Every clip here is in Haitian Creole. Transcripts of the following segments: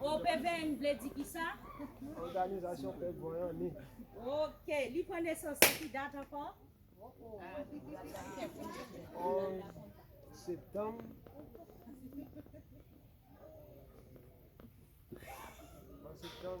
OPVN vle di kisa? Òganizasyon Pèp Vanyan ni. Ok, li pran nesans nan ki dat ankò? 11 septanm. An septanm.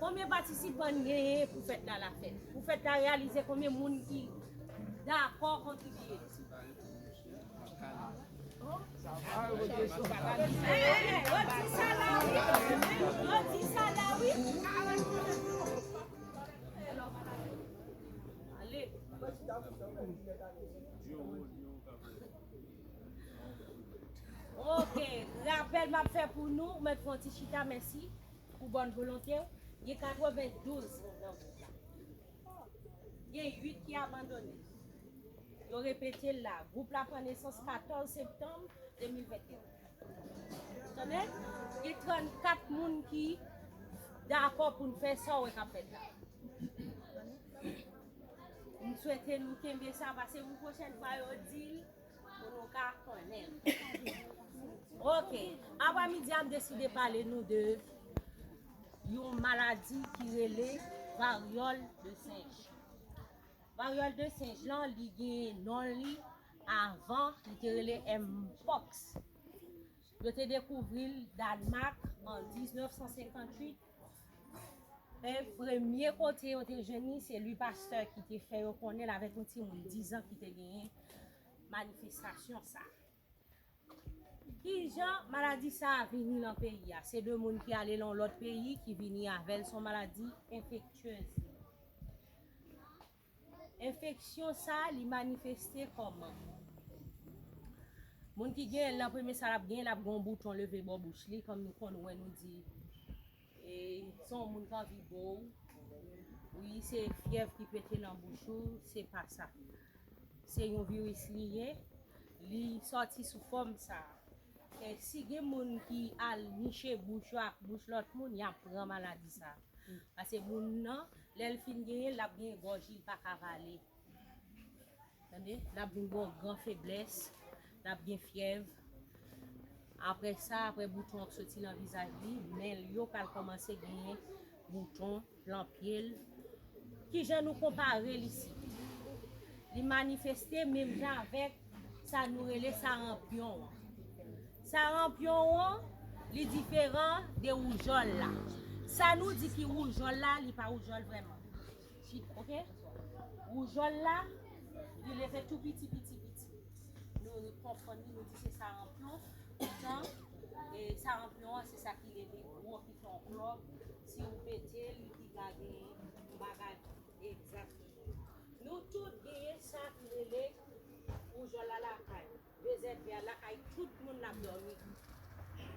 Konbyen patisipan n genyen pou fèt la la fèt? Pou fèt la reyalize konbyen moun ki dakò kontribye? Ok rapèl map fè pou nou ou mèt fon ti chita mèsi pou bòn volonte ou gen 92 moun nan gwoup la gen 8 ki abandone yo repetel la gwoup la pran nesans 14 septanm 2021 tande gen 34 moun ki dakò poun fè sa ou wè kap fèt la. M swete nou kenbe sa pase pou pwochèn fwa yo di l pou nou ka konnen. Ok, aprè midi a m deside pale nou de yon maladi ki rele varyòl de senj. Varyòl de senj lan li gen non li avan li te rele Mpox. Yo te dekouvri l Dànmak an 1958. Men premye kote yo te jwenn li se Louis Pasteur ki te fè yo konnen l avèk yon timoun 10 an ki te genyen manifestasyon sa. Kijan maladi sa vini nan peyi a? Se 2 moun ki ale nan yon lòt peyi ki vini avè l, son maladi enfektyez. Enfeksyon sa li manifeste kòman? Moun ki genyenl lan premye sa lap genyen lap gen yon bouton leve bò bouch li kòm nou konn wè nou di e se yon moun ki anvi bow wi se fyèv ki pete nan bouch ou se pa sa se yon viris li ye li sòti sou fòm sa si gen moun ki al niche bouch yo ak bouch lòt moun yap pran maladi sa. Pase moun nan lèl fin genyen lap gen gòj li pa ka vale tande lap vin gen yon gran feblès lap gen fyèv aprè sa aprè bouton ap soti nan vizaj li men l yo pral kòmanse genyen bouton lan pye l kijan nou konpare l isit li manifeste menm jan avèk sa nou rele saranpyon an Saranpyon won li diferan de woujòl la. Sa nou di ki woujòl la li pa woujòl vrèman. Ok. Woujòl la li leve tou piti piti piti. Nou konfonn li nou di se saranpyon. Poutan e saranpyon an se sa ki leve gwo ki fè yon klòb. Si ou pete l li pi ka gen yon bagay egzakteman. Nou tout genyen sa ki rele woujòl la lakay nou. Joseph Pierre la kay tout moun lap domi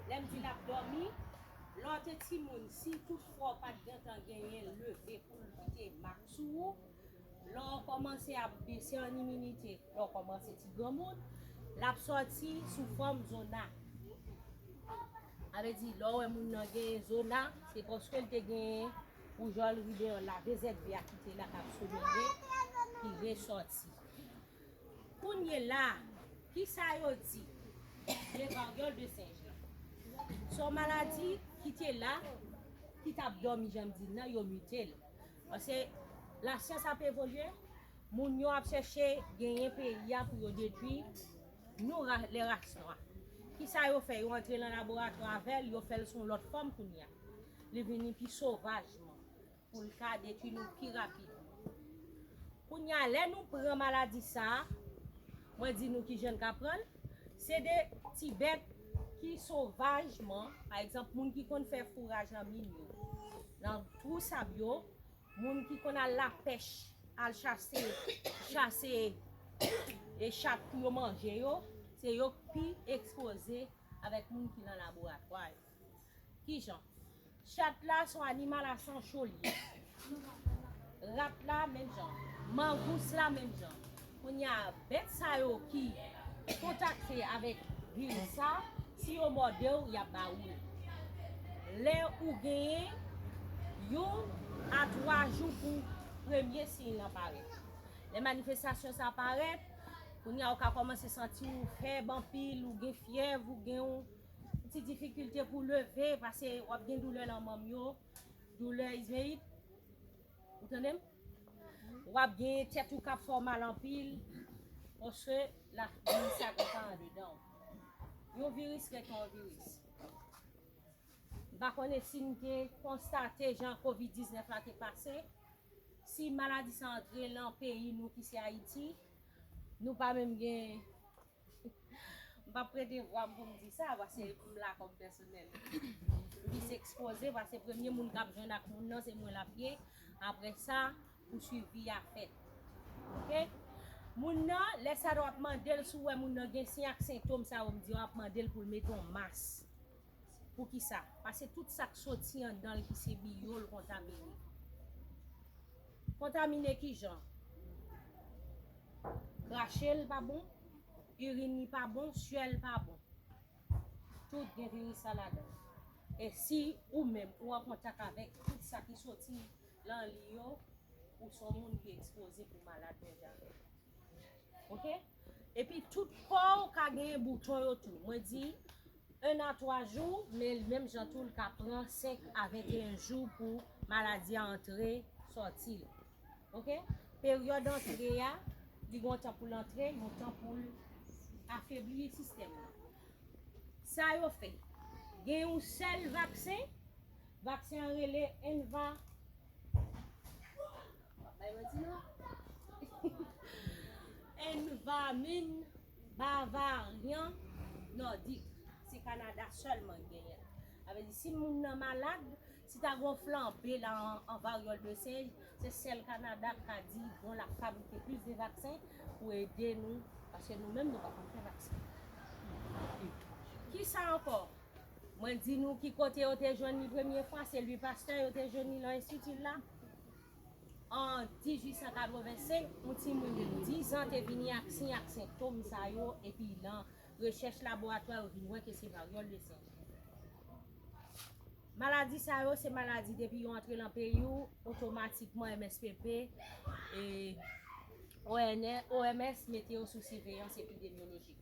lèm di lap domi lè w te timoun si tout fwa w pat gentan genyen leve pou l kite mak sou ou lè w kòmanse ap bese an iminite lè w kòmanse ti granmoun lap sòti sou fòm zona sa vle di lè w wè moun nan genyen zona se paske l te genyen woujòl ribeyòl la vezèk vè a ki te la kap somere ki resòti. Kounyela a, ki sa yo di de varyòl de senj la? Se yon maladi ki te la, ki tap dòmi jan m di l nan, yo mite l. Pase lasyans ap evolye, moun yo ap chèche genyen peyi a pou yo detwi nou lè ras nwa. Ki sa yo fè? Yo antre nan laboratwa avè l, yo fè l sou yon lòt fòm kounye a. Li vini pi sovaj. pou l ka detwi nou pi rapid. Kounye a, lè nou pran maladi sa a, mwen di nou ki jan n ka pran l, se de ti bèt ki sovajman, pa egzanp, moun ki konn fè fouraj nan min yo, nan twou sab yo, moun ki konn al lapèch, al chase, chase e chat pou yo manje yo, se yo k pi ekspoze avèk moun ki nan laboratwa yo. Kijan? Chat la son animal a san cho li ye. Rat la menm jan. Mangous la menm jan. Kounya bèt sa yo ki kontakte avèk viris sa, si yo mòde w, y ap ba ou l. Lè ou genyen yon a twa jou pou premye siy lan parèt. Lè manifestasyon sa parèt, kounya ou ka kòmanse santi ou fèb anpil, ou gen fyèv, ou gen yon Ti difikilte pou leve pase wap gen doulè nan manm yo, doulè izmeyit. Ou tande m? Wap gen tèt ou kap fè w mal anpil paske la viris la kontan andedan w. Yon viris rete yon viris. M pa konnen si nou te konstate jan covid 19 la te pase, si maladi sa antre lan peyi nou ki se Ayiti, nou pa menm gen. M pap prete vwa m pou m di sa paske m la kòm pèsonèl. M plis ekspoze paske premye moun k ap jwenn ak moun nan se mwen l ap ye, aprè sa pou swivi a fèt. Ok. Moun nan, lè sa a w ap mande l si w wè moun nan gen siy ak sentom sa yo m di yo, w ap mande l pou l mete yon mas. Poukisa? Paske tout sa k soti anndan l ki se biyo l kontamine. Kontamine kijan? Krache l pa bon, irin li pa bon, suè l pa bon. Tout gen viris la ladan l. E si ou menm ou an kontak avèk tout sa ki soti lan li yo, ou s on moun ki ekspoze pou malad menm jan avè m. Ok? Epi tout pow ka gen bouton yo tou mwen di 1 a 3 jou men menm jan tou li ka pran 5 a 21 jou pou maladi a antre sòti ok peryòd antre a li gon tan poul antre gon tan poul afebli sistèm nan sa yo fè gen yon sèl vaksen vaksen an rele enva. Wap bay manti non. Envamin Bavaryan Nordic se Canada selman ki genyen l. Sa vle di si moun nan malad, si ta gen yon flanbe la an varyòl de senj, se sèl Canada k ka di bon lap fabrike plis de vaksen pou ede nou paske nou menm nou pa konn fè vaksen. Kisa ankò? Mwen di nou ki kote yo te jwenn li premye fwa, se Louis Pasteur yo te jwenn li nan enstiti l la. An 1885, yon timoun de 10 an te vini ak siy ak sentom sa yo epi nan rechèch laboratwa yo vin wè ke se varyòl de senje. Maladi sa yo se maladi depi yo antre lan peyi w, otomatikman MSPP e OMS mete yo sou siveyans epidemyolojik.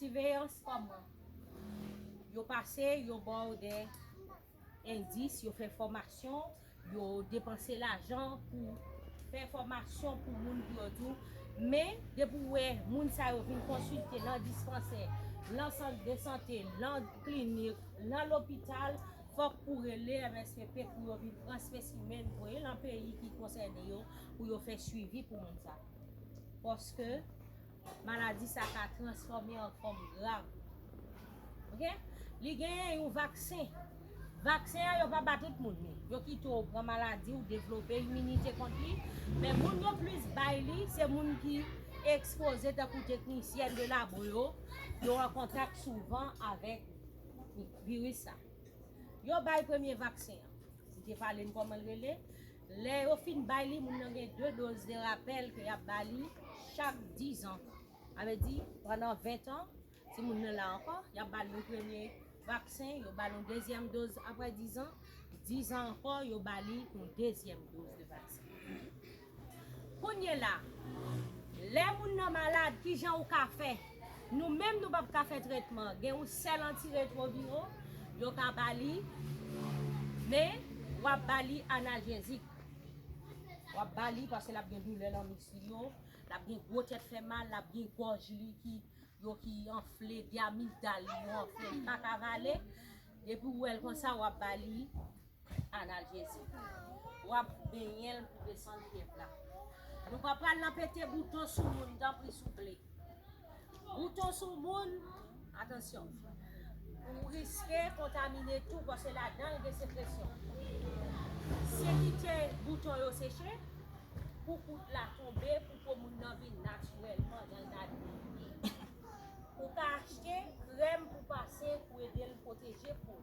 Siveyans kòman? Yo pase, yo ba w de. Endis, yo fè fòmasyon, yo depanse lajan pou fè fòmasyon pou moun pou yo tou. Men, depi w wè moun sa yo vin konsilte nan dispansè, nan sant de sante, nan klinik, nan lopital, fòk ou rele MSPP pou yo vin pran spesimen, voye nan peyi ki konsène yo, pou yo fè suivi pou moun sa. Paske. maladi sa ka transfòme an fòm grav. Ok. Li genyen yon vaksen. Vaksen an yo pa ba tout moun li. Yo kite w pran maladi ou devlope iminite kont li. Men moun yo plis bay li, se moun ki ekspoze tankou teknisyèn de labo yo, yo an kontak souvan avèk viris sa. Yo bay premye vaksen an. Li te pale n kòman l rele. Lè yo fin bay li, moun nan gen 2 doz de rapèl ke y ap ba li chak 10 an. Sa vle di, pandan 20 tan, si moun nan la ankò, y ap ba li yon premye vaksen, yo ba l yon dezyèm doz apre 10 an, 10 an ankò, yo ba li yon dezyèm doz de vaksen. Kounyela, lè moun nan malad, kijan ou ka fè? Nou menm nou pap ka fè trètman an. Gen yon sèl antiretwoviro yo ka ba li, men w ap ba li analjezik. W ap ba li paske l ap gen doulè nan misk li yo, l ap gen gwo tèt fè mal, l ap gen gòj li ki yo ki anfle, dyamitdal li yo anfle, li pa ka vale. Depi w wè l konsa, w ap ba li Ana jezi. Wap benyenl pou desann pyèp la. Nou pa pral nan pete bouton sou moun tanpri souple. Bouton sou moun atansyon. Ou riske kontamine tou pase ladanl gen sekresyon. Se kite bouton yo seche pou poud la tonbe pou po moun nan vin natirèlman janl ta dwe ye. Ou ka achte krèm pou pase pou edel pwoteje poul.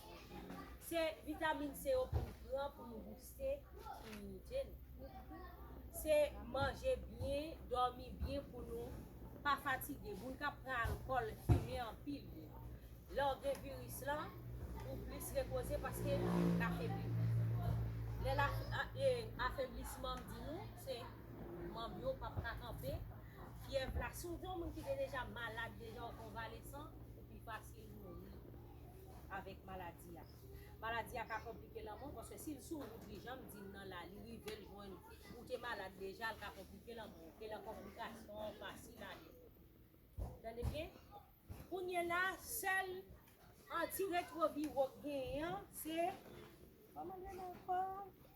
Se vitamin se yo pou n pran pou nou bouste iminite nou. Se manje byen, dòmi byen pou nou pa fatige. Moun k ap pran alkòl, fimen anpil, lè w gen viris lan, ou plis repoze paske l afebli w. Lè l afeblisman m di nou, se manm yo p ap ka kanpe, fyèv la. Si w se yon moun ki te deja malad, deja w konvalesan, ou pi fasil mouri. avèk maladi a. Maladi a ka konplike lanmò w paske si l sou wout li jan m di n nan la li rive l jwenn ou, ou te malad deja l ka konplike lanmò w elan konplikasyon an fasil ale. Tande byen, kounyela sèl anti-retroviwo k genyen an se, kòman l rele ankò?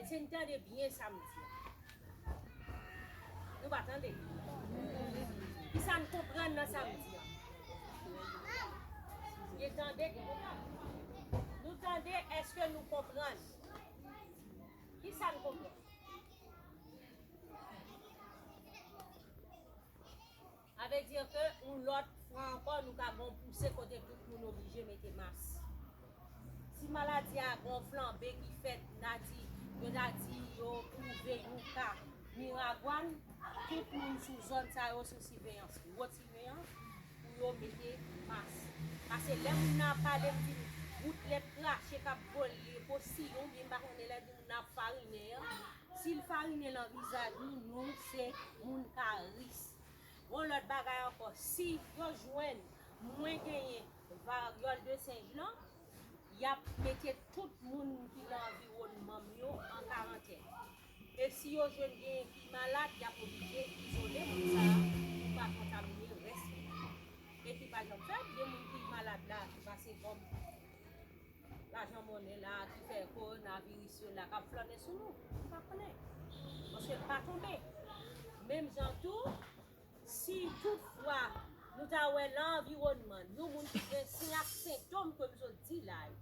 Èske n tande byen sa m di a? Nou pa tande? Ki sa n konprann nan sa m di a? Byen tande ke nou pa tande. Nou tande, èske nou konprann? Ki sa n konprann? Sa vle di ke yon lòt fwa ankò nou ka gon pouse kote tout moun oblije mete mas. Si maladi a gon flanbe ki fèt na di, yo ta di yo twouve yon ka Miragwàn, tout moun sou zòn sa yo sou siveyans Wotimeyan pou yo mete mas. Pase lè moun nan ap pale m di m gout lèt krache k ap vole po siy oubyen m pa konnen lè di moun nan ap farinen an, si l farinen nan vizaj nou, nou se moun ka ris. Yon lòt bagay ankò, si yo jwenn mwen genyen varyòl de senj lan, y ap mete tout moun ki nan anviwònman m yo an karantèn. E si yo jwenn genyen ki malad, y ap oblije izole moun sa a pou pa kontamine rès moun yo. Epi pa janm fèt, gen moun ki malad la ki pa se kòm. lajan monnen la ki fè kowonaviris yo la k ap flannen sou nou, nou pa konnen. Paske l pa tonbe. Menm jan tou, si tout fwa nou ta wè lan anviwònman nou moun ki gen siy ak sentom ke m sot di la yo,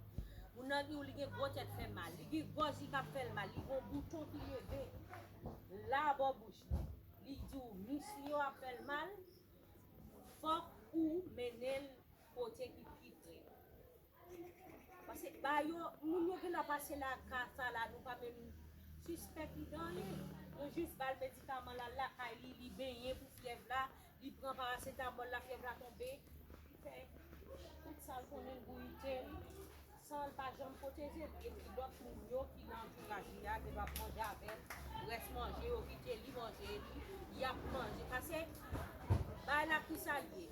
moun nan di w li gen gwo tèt fè mal, li gen gòj li k ap fè l mal, li gen yon bouton ki leve la bò bouch li, li di w mis li yo ap fè l mal, fòk ou mennen l kote ki pi pre. Pase ba yo, moun yo gentan pase la ka sa la nou pa menm sispèk li de anyen, nou jis ba l medikaman l al lakay li, li benyen pou fyèv la, li pran parasetamòl la fyèv la tonbe, li fè tout sa l konnen l gouyite l san l pa janm pwoteze l epi lòt moun yo ki nan antouraj li a gentan ap manje avè l, rès manje yo kite li manje li, y ap manje pase bay la ki sa l ye.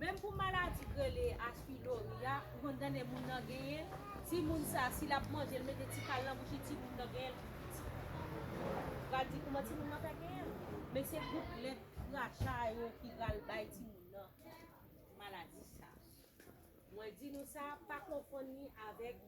Menm pou maladi k rele H pylori a, ou konn tande moun nan genyen l, timoun sa si l ap manje l mete ti kal nan bouch li timoun nan genyen l, ou pral di kouman timoun nan fè genyen l? Men se gout lèt kracha yo ki pral bay timoun nan maladi sa. Mwen di nou sa pa konfonn li avèk.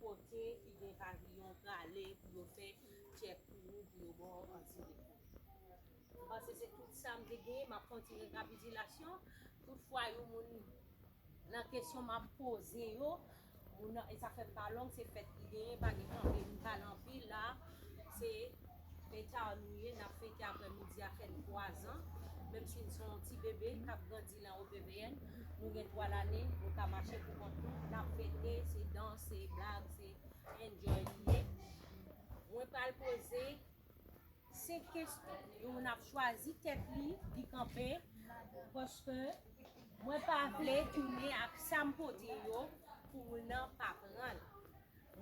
Kote ki gen paviyon prale pou yo fè tchèk pou ou pou yo ba w anti refou. M panse se tout sa m te genyen, m ap fè yon ti rekapitilasyon. Tout fwa yon moun nan kesyon m ap poze yo, moun nan, e sa fè m pa long, se fèt ki genyen pa gen anpil m pale anpil la, se. Men eta nou ye, n ap fete aprè midi a fèt 3 zan, menm si n se yon ti bebe k ap grandi lan OPVN, nou gen 3 lane, nou ka mache pou kont nou, n ap fete, se dans, se blag, se enjoy li ye. Mwen pral poze 5 kesyon, yon moun ap chwazi tèt li, li kanpe, paske mwen pa vle tounen ak sa m pote yo, pou moun nan pa pran l.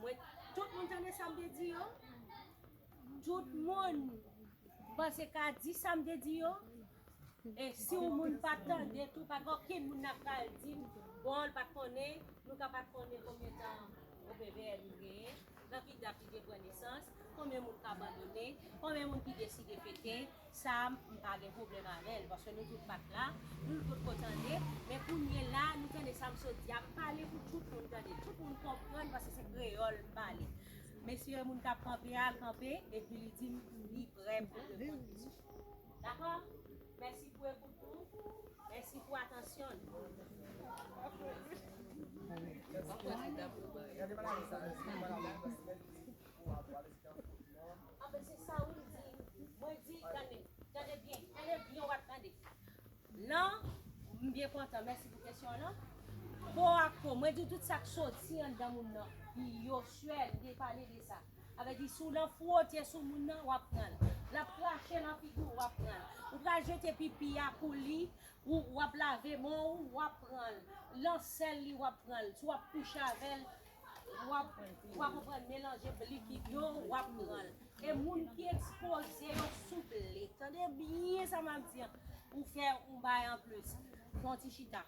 Mwen tout moun tande sam te di yo tout moun panse ka di sam te di yo e si yon moun pa tande tou pa gen okenn moun nap pral di bon li pat konnen nou ka pat konnen konbyen tan OPVL nou genyen nan ki dat li te pran nesans konbyen moun k abandone konbyen moun ki deside pete Sam m pa gen pwoblèm avèl paske nou tout pat la nou l potko tande men kounyela nou tande sam sot di ap pale pou tout moun tande tout moun konprann paske se kreyòl m pale mesye moun kap kanpe a kanpe epi li dim li prè pou reponn kesyon dakò mèsi pou ekout nou mèsi pou atansyon nou. Anfen se sa wi m di. Mwen di tande, tande byen, tande byen wap tande nan m byen kontan mèsi pou kesyon an nan po ak po mwen di w tout sak soti anndan moun nan pi yo swè m te pale de sa sa vle di si w nan fwote sou moun nan wap pran l lap krache nan figi w wap pran l ou pral jete pipi a pou li ou wap lave men w wap pran l lan sèl li wap pran l si wap kouche avè l Wap konprann melanje likid yo wap pranl e moun ki ekspoze yo souple tande byen sa map di an ou fè ou bay an plis fon ti chita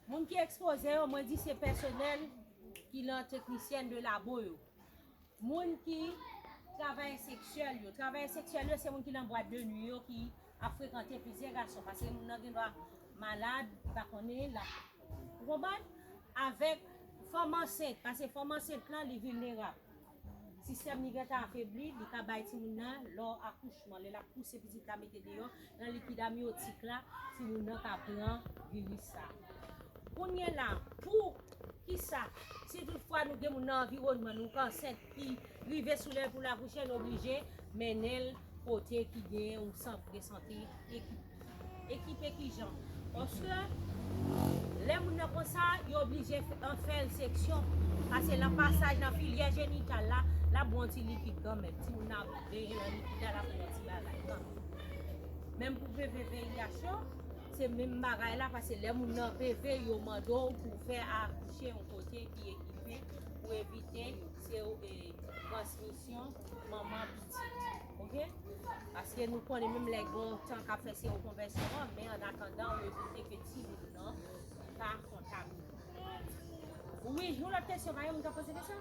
moun ki ekspoze yo mwen di se pèsonèl ki lan teknisyèn de labo yo moun ki travayè seksyèl yo travayè seksyèl yo se moun ki lan bwat de nwi yo ki ap frekante plizyè gason paske moun nan gendwa malad li pa konnen lap ou konprann avèk fanm ansent paske fanm ansent lan li vilnerab sistèm li gentan afebli li ka bay timoun nan lò akouchman lè lap pouse pitit la mete deyò nan likid amyotik la timoun nan ka pran viris sa kounyela pou kisa si tout fwa nou gen moun nan anviwònman nou k ansent ki rive sou lè pou l akouche l oblije mennen l kote ki gen yon sant de sante ekipe kijan paske lè moun nan konsa yo oblije fè l seksyon pase nan pasaj nan filyè jenital la l ap bon ti likid kanmèm ti moun nan ap veye nan likid la l ap bon ti bagay kanmèm menm pou veve VIH yo se menm bagay la pase lè moun nan veve yo mande w pou fè akouche yon kote ki ekipe Pou evite se ou e transmisyon manman pitit ok paske nou konnen menm lè gon tan kap fè se yon konvèsyon men an atandan ou evite ke ti moun nan pa kontamine wi yon lòt kesyon pa gen moun kap poze kesyon.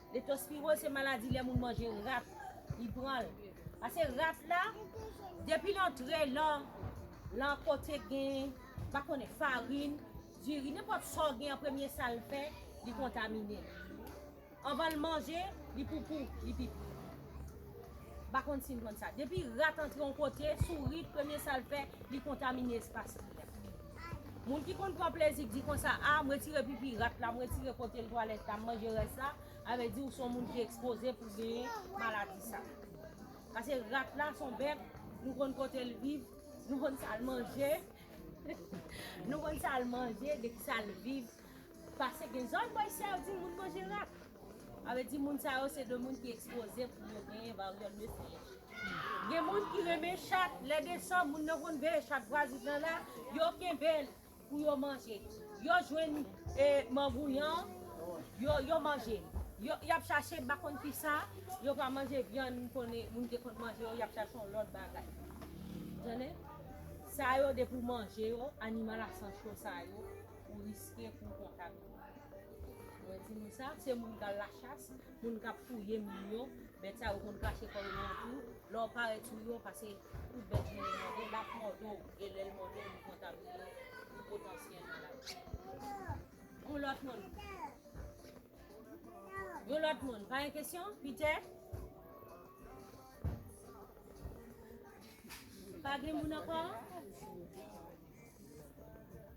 Leptospiroz se maladi lè moun manje rat li pran l. Pase rat la depi l antre lan kote gen pa konnen farin, diri nenpòt sa w gen an premye sa l fè li kontamine. Anvan l manje li poupou, li pipi. M pa konn si n konn sa. Depi rat antre yon kote sourit premye sa l fè li kontamine espas li a. Moun ki konn pran plezi k di konsa ah m retire pipi rat la m retire kote l twalèt la m manje rès la sa vle di ou son moun ki ekspoze pou genyen maladi sa pase rat la son bèt nou konn kote l viv nou konn sa l manje nou konn sa l manje de ki sa l viv Pase gen zòn bòy si ap di moun manje rat. A vle di moun sa yo se de moun ki ekspoze pou yo genyen varyòl de sinj. Gen moun ki renmen chat, lè desanm moun nan konn veye chat vwazin nan la, yo kenbe l pou yo manje. Yo jwenn e manbouyan, yo manje l. Y ap chache m pa konn ki sa, yo pa manje vyann m konnen moun te konn manje yo, y ap chache yon lòt bagay. Sa yo depi w manje yo, animal a san cho sa yo, ou riske pou w kontamine. Mwen di moun sa, se moun k al lachas, moun k ap fouye moun yo, bèt sa yo konn kache kò yo nan twou, lè w parèt sou yo, pase tout bèt vin mòde l, l ap mòde w, e lè l mòde w li kontamine w, li potansyèl maladi. Yon lòt moun? Yon lòt moun? Pa gen kesyon? Pitè? Pa gen moun ankò?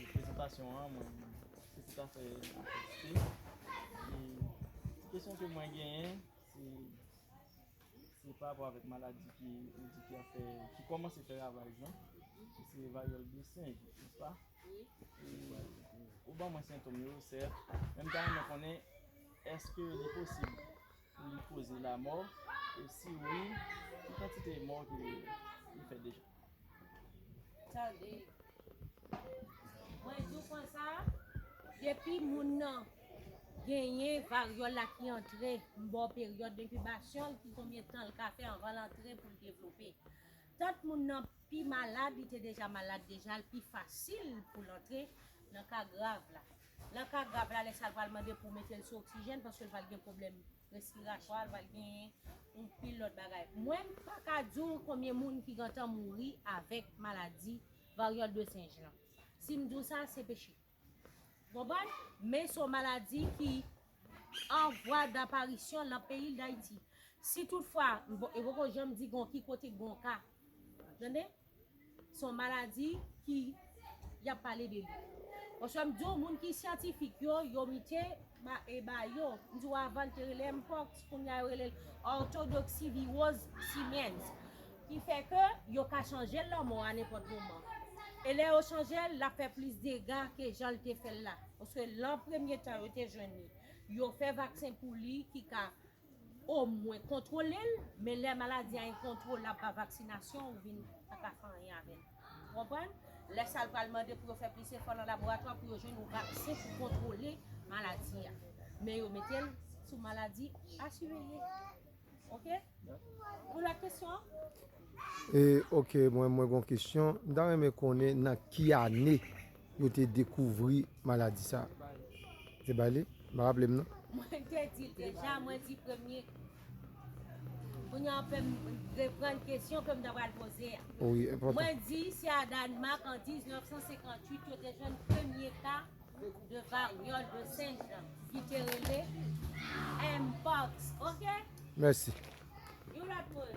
e prezantasyon an mwen se tout afè apresye e ti kesyon ke mwen genyen se se pa rapò avèk maladi ki ou di ki ap fè ki kòmanse fè ravaj lan ki se varyòl de senj nèspa? ou ban mwen sentom yo sèt men m ta renmen konnen èske li posib Pou li koze lamò, e si wi, ki kantite mò ke li fè deja? Tande! Mwen di w konsa, depi moun nan genyen varyòl la ki antre m ba w peryòd denkibasyon l ki konbyen tan l ka fè anvan l antre pou l devlope. Tant moun nan pi malad, li te deja malad deja, li pi fasil pou l antre nan ka grav la. Nan ka grav la, lè sa l pral mande pou mete l sou oksijèn paske l pral gen pwoblèm respiratwa, l pral gen yon pil lòt bagay. Mwen m pa ka di w konbyen moun ki gentan mouri avèk maladi varyòl de senj lan. Si m di w sa, se peche. Ou konprann? Men se yon maladi ki an vwa daparisyon nan peyi Dayiti. Si tout fwa, e poko janm di gen yon ki kote gen yon ka. Ou tande? Son maladi ki yap pale de li. Oswa m di w moun ki syantifik yo, yo mite ba e ba yo. M di w avan l te rele mpox, kounye a yo rele l orthodoxivirose simiens. Ki fè ke yo ka chanje l lanmò a nenpòt moman. E lè yo chanje l, l ap fè plis dega ke jan l te fè l la. Paske lan premye tan yo te jwenn li, yo fè vaksen pou li ki ka O mwen kontwole l men lè maladi a enkontwolab pa vaksinasyon ou vin pa ka fè anyen avè l. Ou konprann? Lè sa l pral mande pou yo fè plis efò nan laboratwa pou yo jwenn yon vaksen pou kontwole maladi a. Men yo mete l sou maladi a siveye. Ok? Yon lòt kesyon? E ok mwen mwen gon kesyon. M ta renmen konnen nan ki ane yo te dekouvri maladi sa a. Te bay li? M pa raple m non. Mwen te di l deja, mwen di premye. Kounye a w fè m reprann kesyon ke m ta pral poze a. Wi, enpòtan. Mwen di se a Dànmak an 1958 yo te jwenn premye ka de varyòl de senj lan ki te rele Mpox. Ok? Mèsi. Yon lòt moun.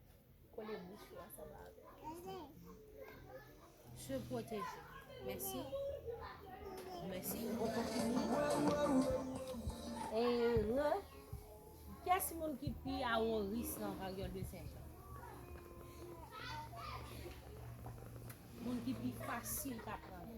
Kole bouch ou ansanm avèl. Se pwoteje. Mèsi. Mèsi. E re. Kès moun ki pi a wo ris nan varyòl de senjan? Moun ki pi fasil ka pran li.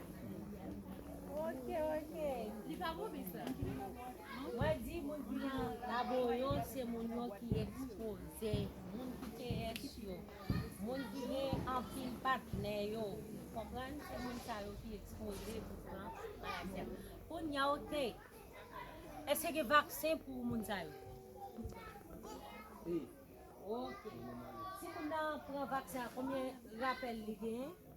Ok ok Li pa bon bis la Mwen di moun ki nan labo yo se moun yo ki ekspoze Moun ki te es yo Moun ki gen anpil patnè yo Ou konprann se moun sa yo ki ekspoze pou pran maladi a Kounya ok Eske gen vaksen pou moun sa yo? Ok Si moun nan pran vaksen an konbyen rapèl li genyen?